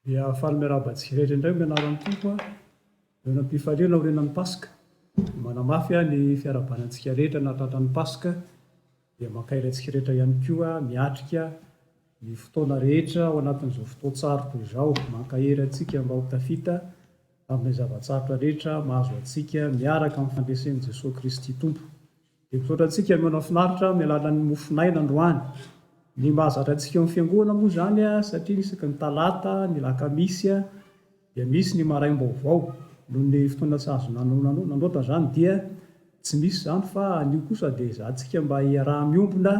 Dia faly miarahaba antsika rehetra indray amin'ny anaran'ny Tompo a! Noana-pifaliana aorianan'ny Paska, dia manamafy aho ny fiarahabana antsika rehetra nahatratra ny Paska, dia mankahery antsika rehetra ihany koa miatrika ny fotoana rehetra ao anatin'izao fotoan-tsarotra izao. Mankahery antsika mba ho tafita amin'ilay zava-tsarotra rehetra mahazo antsika miaraka amin'ny fandresen'i Jesoa Kristy Tompo. Dia misaotra antsika mihaino ny finaritra amin'ny alalan'ny mofon'aina androany. Ny mahazatra antsika eo amin'ny fiangonana moa izany satria isaky ny talata, ny alakamisy dia misy ny maraim-baovao. Noho ny fotoana tsy azo nandroatana izany dia tsy misy izany fa anio kosa dia ezahantsika mba hiaraha-miombona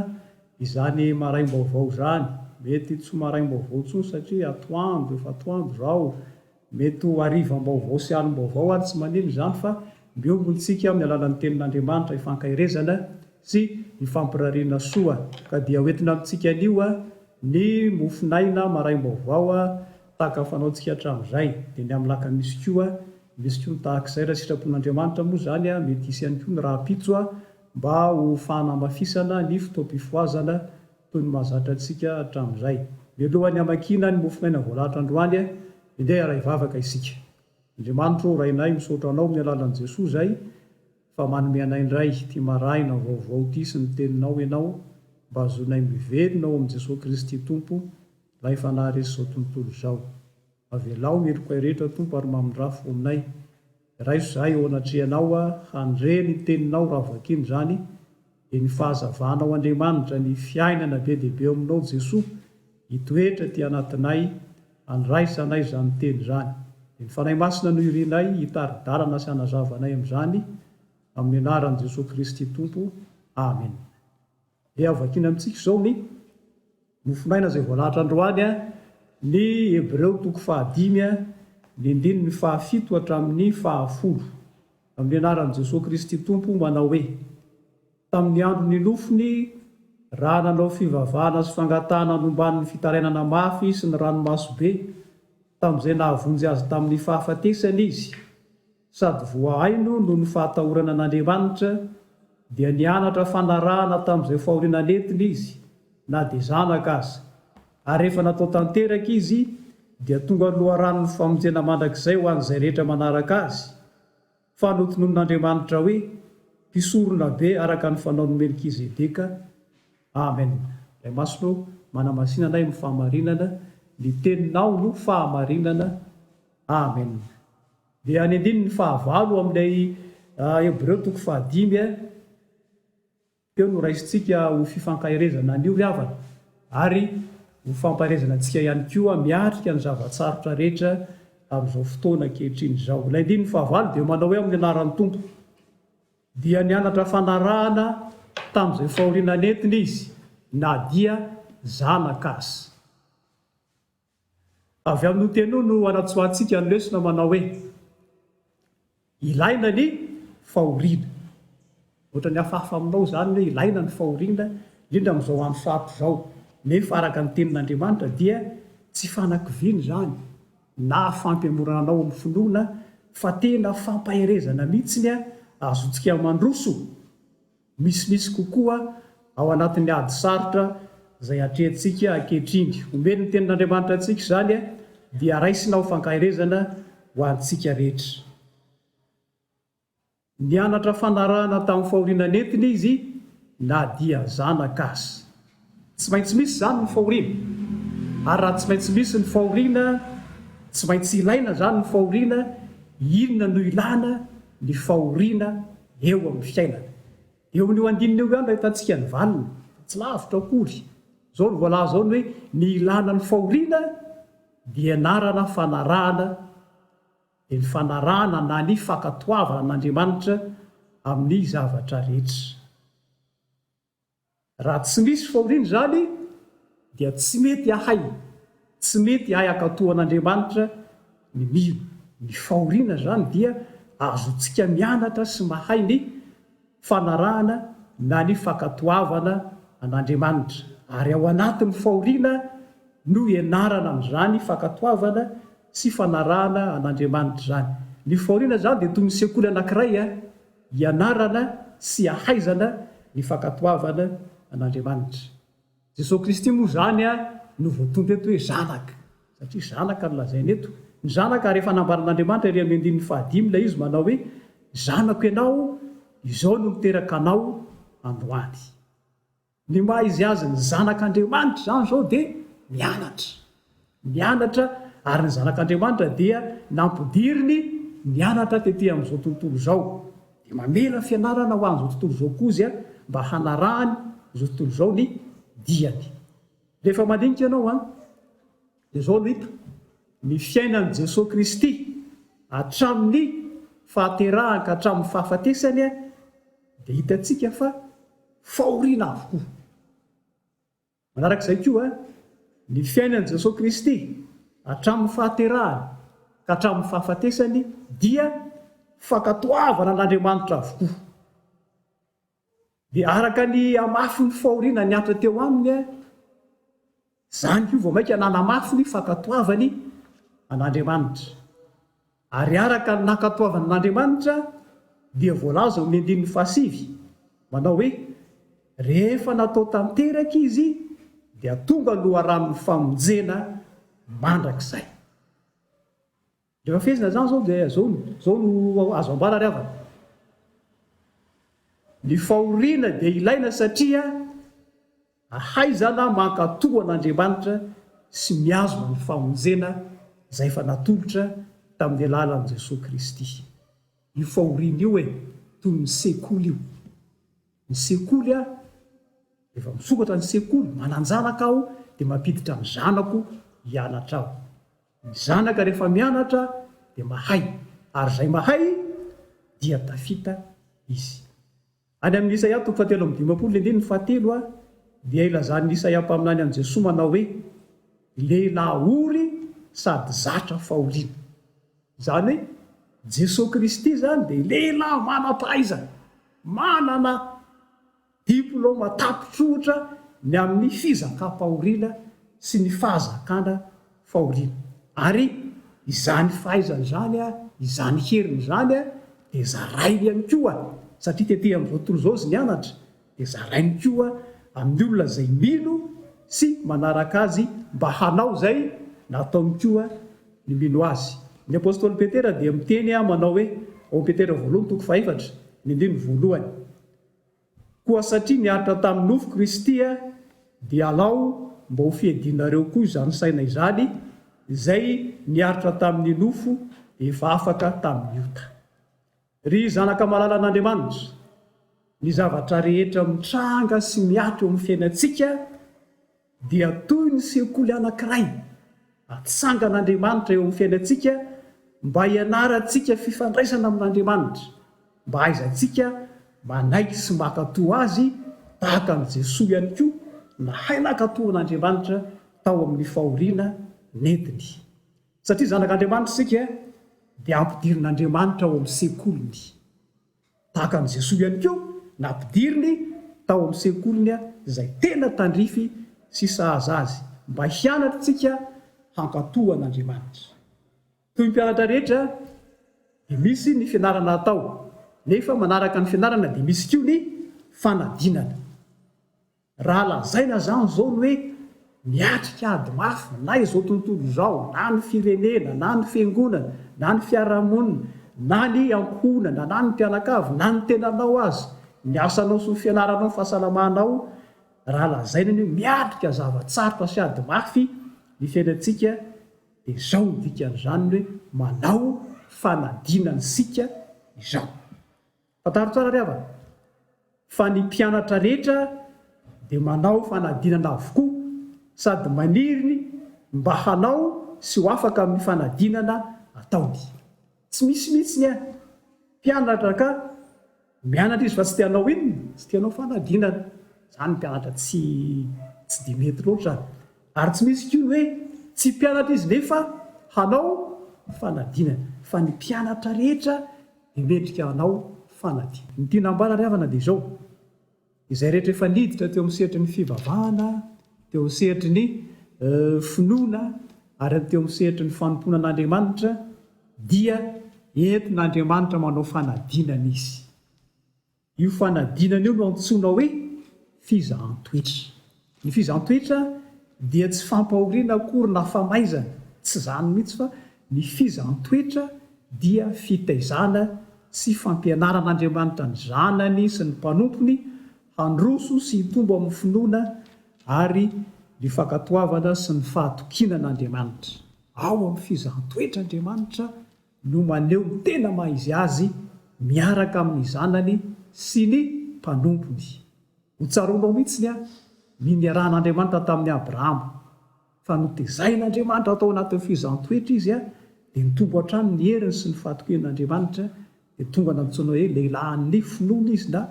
izany maraim-baovao izany. Mety tsy ho maraim-baovao intsony satria atoandro, efa atoandro izao, Mety ho harivam-baovao sy alim-baovao ary tsy manino izany fa miombona isika amin'ny alalan'ny Tenin'Andriamanitra ifankaherezana sy ifampirariana soa ka dia hoentina amintsika anio ny mofon'aina maraim-baovao tahaka ny fanaontsika hatramin'izay dia ny amin'ny lakamisy koa misy koa ny tahak'izay raha sitrapon'Andriamanitra moa izany mety hisy ihany koa ny rahampitso mba ho fanamafisana ny fotoam-pifohazana toy ny mahazatra antsika hatramin'izay. Mialohan'ny hamakiana ny mofomaina voalahatra androany, andeha hiaray vavaka isika. Andriamanitro ô, Rainay, misaotra Anao amin'ny alalan'i Jesoa izay, fa manome anay indray ity marahina vaovao ity sy ny Teninao Ianao, mba hahazoanay mivelona ao amin'i Jesoa Kristy Tompo, Ilay Fanahy resy izao tontolo izao. Avelao ny heloka rehetra, Tompo, ary mamindrafo ho aminay. Raiso za eo anatrehanao a handre ny teninao raha vakiana izany dia ny fahazavanao Andriamanitra ny fiainana be dia be eo aminao Jesoa hitoetra aty anatinay handraisa anay izany teny izany dia ny Fanahy Masina no irinay hitari-dalana sy hanazava anay amin'izany amin'ny anaran'i Jesoa Kristy Tompo Amena. Dia hovakiana amintsika izao ny mofonaina izay voalahatra androany, ny Hebreo toko fahadimy, ny andininy fahafito hatramin'ny fahafolo. Amin'ny anaran'i Jesoa Kristy Tompo, manao hoe, Tamin'ny andro ninofiny, raha nanao fivavahana sy fangatahana nombany ny fitarainana mafy sy ny ranomaso be, tamin'izay nahavonjy azy tamin'ny fahafatesany izy, sady voahaino noho ny fahatahorana an'Andriamanitra, dia nianatra fanarahana tamin'izay fahoriana nentiny izy, na dia zanaka aza. Ary rehefa natao tanteraka izy, dia tonga loharanon'ny famonjena mandrakizay ho an'izay rehetra manaraka azy, fa notononin'Andriamanitra hoe mpisoronabe araka ny fanaon'i Melkizedeka. Amen. Ray Masina ô, manamasina anay amin'ny fahamarinana, ny Teninao no fahamarinana. Amen. Dia any andininy fahavalo amin'ilay Hebreo toko fahadimy teo no raisintsika ho fifankaherezana an'io ry havana, ary ho fampaherezana antsika ihany koa miatrika ny zava-tsarotra rehetra amin'izao fotoana ankehitriny izao. Ilay andininy fahavalo dia manao hoe amin'ny anaran'ny Tompo. Dia nianatra fanarahana tamin'izay fahoriana nentiny izy na dia zanaka aza. Avy amin'io teny io no anatsoahantsika ny lesona manao hoe, Ilaina ny fahoriana. Ohatran'ny hafahafa aminao izany ny hoe ilaina ny fahoriana, indrindra amin'izao andro sarotra izao. Nefa araka ny Tenin'Andriamanitra dia tsy fanakiviana izany na fampihemorana anao amin'ny finoana fa tena fampaherezana mihitsy ny azontsika mandroso. misimisy kokoa ao anatin'ny ady sarotra izay atrehintsika ankehitriny. Omeny ny Tenin'Andriamanitra antsika izany, dia raisina ho fankaherezana ho antsika rehetra. Nianatra fanarahana tamin'ny fahoriana nentiny izy na dia zanaka aza. Tsy maintsy misy izany ny fahoriana. Ary raha tsy maintsy misy ny fahoriana, tsy maintsy ilaina izany ny fahoriana, inona no ilana ny fahoriana eo amin'ny fiainana? Eo amin'io andininy io ihany no ahitantsika ny valiny, fa tsy lavitra akory. Izao no voalaza ao ny hoe, ny ilana ny fahoriana dia ianarana fanarahana, dia ny fanarahana na ny fankatoavana an'Andriamanitra amin'ny zavatra rehetra. Raha tsy misy fahoriana izany dia tsy mety hahay, tsy mety hahay hankatò an'Andriamanitra ny mino. Ny fahoriana izany dia azontsika mianatra sy mahay ny fanarahana na ny fankatoavana an'Andriamanitra. Ary ao anatin'ny fahoriana no ianarana an'izany fankatoavana sy fanarahana an'Andriamanitra izany. Ny fahoriana izany dia toy ny sekoly anankiray. Ianarana sy ahaizana ny fankatoavana an'Andriamanitra. Jesoa Kristy moa izany no voatondro eto hoe Zanaka, satria Zanaka no lazaina eto. Ny Zanaka, ary efa nambaran'Andriamanitra ery amin'ny andininy fahadimy ilay izy manao hoe, Zanako ianao, izao no niteraka anao androany. Ny maha izy azy ny zanak' Andriamanitra izany izao dia mianatra. Mianatra, ary ny zanak' Andriamanitra dia nampidiriny nianatra tety amin' izao tontolo izao, dia mamela fianarana ho an' izao tontolo izao koa izy mba hanarahany izao tontolo izao ny diany. Rehefa mandinika ianao an. Dia izao no hita, ny fiainan'i Jesoa Kristy, hatramin'ny fahaterahany ka hatramin'ny fahafatesany, dia hitantsika fa fahoriana avokoa. Manaraka izay koa, ny fiainan'i Jesoa Kristy, hatramin'ny fahaterahany ka hatramin'ny fahafatesany, dia fankatoavana an'Andriamanitra avokoa. Dia araka ny hamafin'ny fahoriana nihatra teo aminy, izany koa vao mainka nanamafy ny fankatoavany an'Andriamanitra. Ary araka ny nankatoavany an'Andriamanitra dia voalaza ao amin'ny andininy fahasivy manao hoe, Rehefa natao tanteraka izy dia tonga loharanon'ny famonjena mandrakizay. Rehefa fehezina izany izao dia izao no, izao no azo ambara ry havana, ny fahoriana dia ilaina satria ahaizana mankatò an'Andriamanitra sy mihazona ny famonjena izay efa natolotra tamin'ny alalan'i Jesoa Kristy. Io fahoriana io e, toy ny sekoly io. Ny sekoly a, rehefa misokatra ny sekoly, manan-janaka aho dia mampiditra ny zanako hianatra aho. Ny zanaka rehefa mianatra dia mahay ary izay mahay dia tafita izy. Any amin'ny Isaia toko fahatelo amby dimampolo andininy fahatelo dia ilazan'i Isaia mpaminany an'i Jesoa manao hoe, Lehilahy ory sady zatra fahoriana. Izany hoe Jesoa Kristy izany dia lehilahy manam-pahaizana, manana. Diplaoma tapitsohotra ny amin'ny fizakam-pahoriana sy ny fahazakana fahoriana. Ary izany fahaizany izany, izany heriny izany dia zarainy ihany koa, satria tetehina amin'izao tontolo izao izy nianatra, dia zarainy koa amin'ny olona izay mino sy manaraka azy mba hanao izay nataony koa ny mino azy. Ny apostoly Petera dia miteny manao hoe, ao amin'i Petera voalohany toko fahaefatra, ny andininy voalohany, Koa satria niaritra tamin'ny nofo Kristy dia alao mba ho fiadianareo koa izany saina izany izay niaritra tamin'ny nofo efa afaka tamin'ny ota. Ry zanaka malalan'Andriamanitra, ny zavatra rehetra mitranga sy miato eo amin'ny fiainantsika, dia toy ny sekoly anankiray atsangan'Andriamanitra eo amin'ny fiainantsika mba hianarantsika fifandraisana amin'Andriamanitra, mba hahaizantsika manaiky sy mankatò Azy tahaka an'i Jesoa ihany koa nahay nankatò an'Andriamanitra tao amin'ny fahoriana nentiny. Satria zanak'Andriamanitra isika dia ampidirin'Andriamanitra ao amin'ny sekoliny. Tahaka an'i Jesoa ihany koa, nampidiriny tao amin'ny sekoliny izay tena tandrify sy sahaza azy mba hianatra isika hankatò an'Andriamanitra. Toy ny mpianatra rehetra dia misy ny fianarana atao, nefa manaraka ny fianarana dia misy koa ny fanadinana. Raha lazaina izany izao ny hoe miatrika ady mafy na izao tontolo izao, na ny firenena, na ny fiangonana, na ny fiarahamonina, na ny ankohonana, na ny mpianakavy, na ny tenanao aza, ny asanao sy ny fianaranao, ny fahasalamanao, raha lazaina ny hoe miatrika zava-tsarotra sy ady mafy ny fiainantsika dia izao no dikan'izany ny hoe manao fanadinana isika izao. Fantaro tsara ry havana fa ny mpianatra rehetra dia manao fanadinana avokoa sady maniry ny mba hanao sy ho afaka amin'ny fanadinana ataony. Tsy misy mihitsy ny any mpianatra ka mianatra izy fa tsy te hanao inona? Tsy te hanao fanadinana. Izany ny mpianatra tsy tsy dia mety loatra ary tsy misy koa ny hoe tsy mpianatra izy nefa hanao fanadinana fa ny mpianatra rehetra dia mendrika hanao fanadinana. Ny tiana hambarany havana dia izao, izay rehetra efa niditra teo amin'ny sehatry ny fivavahana, teo amin'ny sehatry ny finoana ary teo amin'ny sehatry ny fanompoana an'Andriamanitra dia entin'Andriamanitra manao fanadinana izy. Io fanadinana io no antsoina hoe fizahan-toetra. Ny fizahan-toetra dia tsy fampahoriana akory na famaizana, tsy izany mihitsy fa ny fizahan-toetra dia fitaizana sy fampianaran'Andriamanitra ny zanany sy ny mpanompony handroso sy hitombo amin'ny finoana ary ny fankatoavana sy ny fahatokiana an'Andriamanitra. Ao amin'ny fizahan-toetra Andriamanitra no maneho ny tena maha izy azy miaraka amin'ny Zanany sy ny mpanompony. Ho tsaroanao mihitsy ny ny niarahan'Andriamanitra tamin'i Abrahama, fa notezain'Andriamanitra tao anatin'ny fihezan-toetra izy, dia nitombo hatrany ny heriny sy ny fahatokian'Andriamanitra, dia tonga nantsoina hoe lehilahin'ny finoana izy na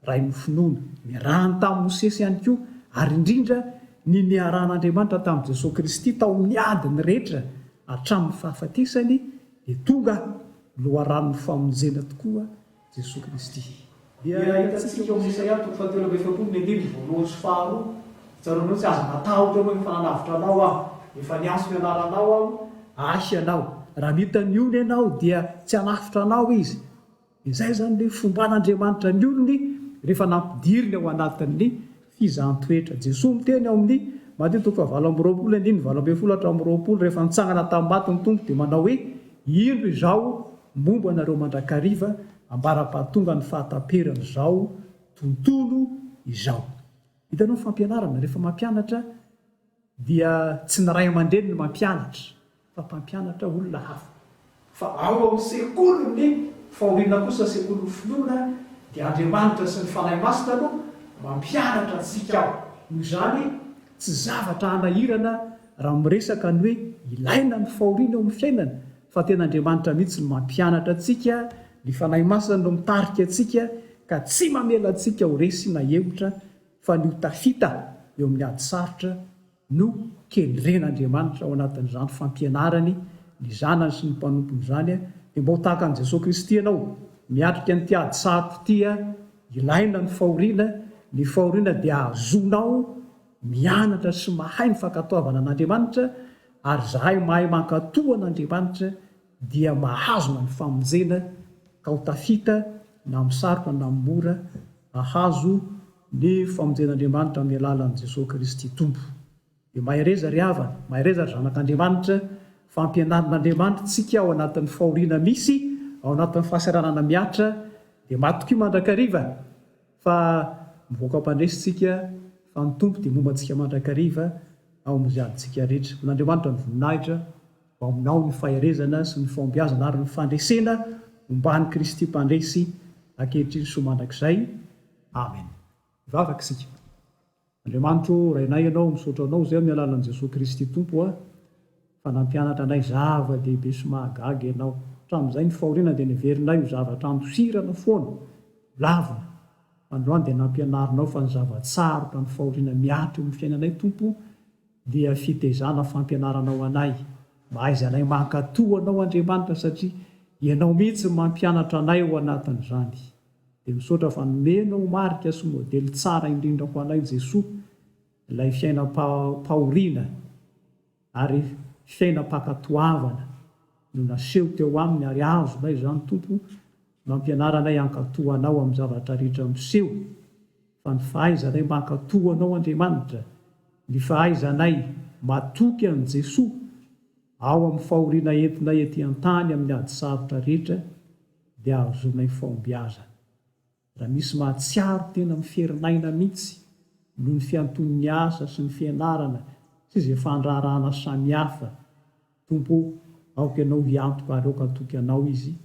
Ray ny finoana. Niarahany tamin'i Mosesy ihany koa, ary indrindra, ny niarahan'Andriamanitra tamin'i Jesoa Kristy tao amin'ny adiny rehetra hatramin'ny fahafatesany, dia tonga Loharanon'ny famonjena tokoa Jesoa Kristy. Dia hitantsika ao amin'ny Isaia toko fahatelo amby efapolo ny andininy voalohany sy faharoa, Tsaroanao ny tsy azo natahotra anao, efa nanavotra anao Aho, efa niantso ny anaranao Aho, Ahy ianao. Raha nita ny ony ianao, dia tsy hanavotra anao Izy. Izay izany ilay fomban'Andriamanitra ny olony rehefa nampidiriny ao anatin'ny fizahan-toetra. Jesoa miteny ao amin'ny Mateo toko fahavalo amby roapolo andininy valo ambin'ny folo hatramin'ny roapolo, rehefa nitsangana tamin'ny maty ny Tompo dia manao hoe, Indro Izaho momba anareo mandrakariva ambara-pahatongan'ny fahataperan'izao tontolo izao. Hitanao ny fampianarana rehefa mampianatra? Dia tsy ny ray aman-dreny no mampianatra fa mpampianatra olona hafa. Fa ao amin'ny sekolin'ny fahoriana kosa, sekolin'ny finoana, dia Andriamanitra sy ny Fanahy Masina no mampianatra antsika ao. Noho izany, tsy zavatra hanahirana raha miresaka ny hoe ilaina ny fahoriana eo amin'ny fiainana, fa tena Andriamanitra mihitsy no mampianatra antsika, ny Fanahy Masina no mitarika antsika ka tsy mamela antsika ho resy na hemotra fa ny ho tafita eo amin'ny ady sarotra no kendren'Andriamanitra ao anatin'izany fampianarany ny zanany sy ny mpanompony izany, dia mba ho tahaka an'i Jesoa Kristy ianao, miatrika an'ity ady sarotra ity, ilaina ny fahoriana, ny fahoriana dia ahazoanao mianatra sy mahay ny fankatoavana an'Andriamanitra, ary izahay mahay mankatoa an'Andriamanitra, dia mahazona ny famonjena ka ho tafita na amin'ny sarotra na amin'ny mora hahazo ny famonjen'Andriamanitra amin'ny alalan'i Jesoa Kristy Tompo. Dia mahereza ry havana, mahereza ry zanak'Andriamanitra, fa ampianarin'Andriamanitra tsika ao anatin'ny fahoriana misy, ao anatin'ny fahasahiranana mihatra, dia matokia mandrakariva fa mivoaka am-pandresy tsika fa ny Tompo dia momba antsika mandrakariva ao amin'ny ziadintsika rehetra. Ho an'Andriamanitra ny voninahitra ho aminao ny faherezana sy ny fahombiazana ary ny fandresena omban'i Kristy Mpandresy ankehitriny sy ho mandrakizay. Amen. Hivavaka isika. Andriamanitro ô, Rainay Ianao, misaotra Anao izay amin'ny alalan'i Jesoa Kristy Tompo aho, fa nampianatra anay zava-dehibe sy mahagaga Ianao. Hatramin'izay ny fahoriana dia neverinay ho zavatra andosirana foana, holavina, fa androany dia nampianarinao fa ny zava-tsarotra ny fahoriana miato eo amin'ny fiainanay Tompo, dia fitezana fampianarana ho anay, mahaiza anay mankatò Anao Andriamanitra satria Ianao mihitsy no mampianatra anay ao anatin'izany. Dia misaotra fa nomenao marika sy modely tsara indrindra ho anay Jesoa, ilay fiainam-pahoriana ary fiainam-pankatoavana no naseho teo Aminy ary azonay izany Tompo Nampianara anay hankatò Anao amin'ny zavatra rehetra miseho, fa ny fahaizanay mankatò Anao Andriamanitra, ny fahaizanay matoky an'i Jesoa ao amin'ny fahoriana entinay ety an-tany amin'ny ady sarotra rehetra dia ahazoanay fahombiazana. Raha misy mahatsiaro tena miferin'aina mihitsy noho ny fianton'ny asa sy ny fianarana sy izay fandraharahana samihafa, Tompo o, aoka Ianao hiantoka ary aoka hatoky Anao izy,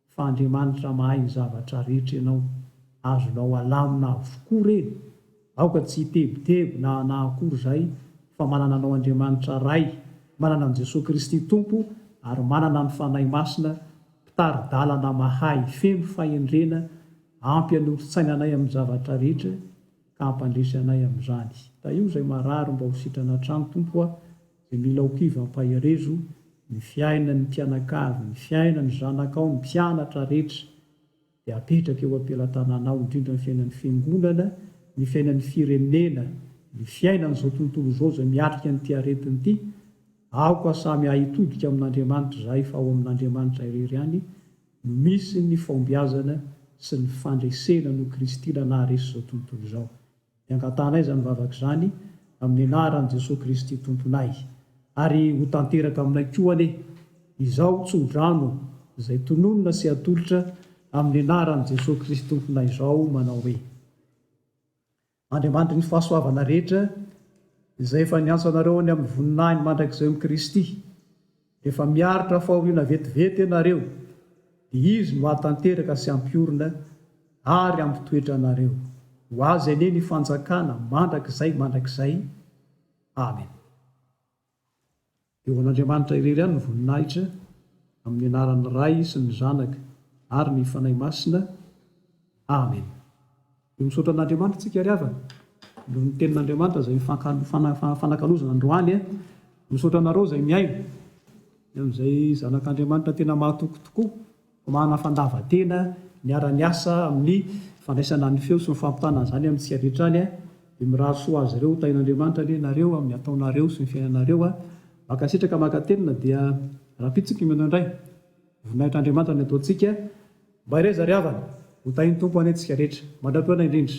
fa Andriamanitra mahay ny zavatra rehetra Ianao, azonao alamina avokoa re, aoka tsy hitebiteby na na akory izahay, fa manana Anao Andriamanitra Ray, manana an'i Jesoa Kristy Tompo, ary manana ny Fanahy Masina, Mpitari-dalana mahay feno fahendrena, ampy hanoritsaina anay amin'ny zavatra rehetra, ka hampandresy anay amin'izany. Tahio izay marary mba ho sitrana hatrany, Tompo a, dia mila ho kivy hampaherezo ny fiainan'ny mpianakavy, ny fiainan'ny zanakao, ny mpianatra rehetra dia apetraka eo am-pelatananao, indrindra ny fiainan'ny fiangonana, ny fiainan'ny firenena, ny fiainan'izao tontolo izao izay miatrika an'ity aretina ity, aoka samy hahitodika amin'Andriamanitra izahay fa ao amin'Andriamanitra irery ihany no misy ny fahombiazana sy ny fandresena noho Kristy na naharesy izao tontolo izao. Dia angatanay izany vavaka izany amin'ny anaran'i Jesoa Kristy Tomponay. Ary ho tanteraka aminay koa anie izao tsodrano izay tononina sy atolotra amin'ny anaran'i Jesoa Kristy Tomponay izao manao hoe, Andriamanitry ny fahasoavana rehetra, izay efa niantso anareo any amin'ny voninahiny mandrakizay amin'i Kristy, Efa miaritra fahoriana vetivety ianareo, dia Izy no hahatanteraka sy hampiorina ary hampitoetra anareo. Ho Azy anie ny fanjakana mandrakizay mandrakizay. Amena. Dia ho an'Andriamanitra irery ihany ny voninahitra, amin'ny anaran'ny Ray sy ny Zanaka ary ny Fanahy Masina. Amena. Dia misaotra an'Andriamanitra tsika ry havana noho ny tenin'Andriamanitra izay mifanakalozana androany eh. Misaotra anareo izay mihaino ny amin'izay zanak'Andriamanitra tena mahatoky tokoa, mana fandavantena miara miasa amin'ny fandraisana ny feo sy ny fampitana an'izany amintsika rehetra any eh. Dia mirary soa azy ireo ho tahin'Andriamanitra anie nareo amin'ny ataonareo sy ny fiainanareo ah. Mankasitraka mankatelina dia rahampitso ny kmino indray. Voninahitr'Andriamanitra ny ataontsika mba hireza ry havana, ho tahin'ny Tompo anie antsika rehetra, mandra-potoana indrindra.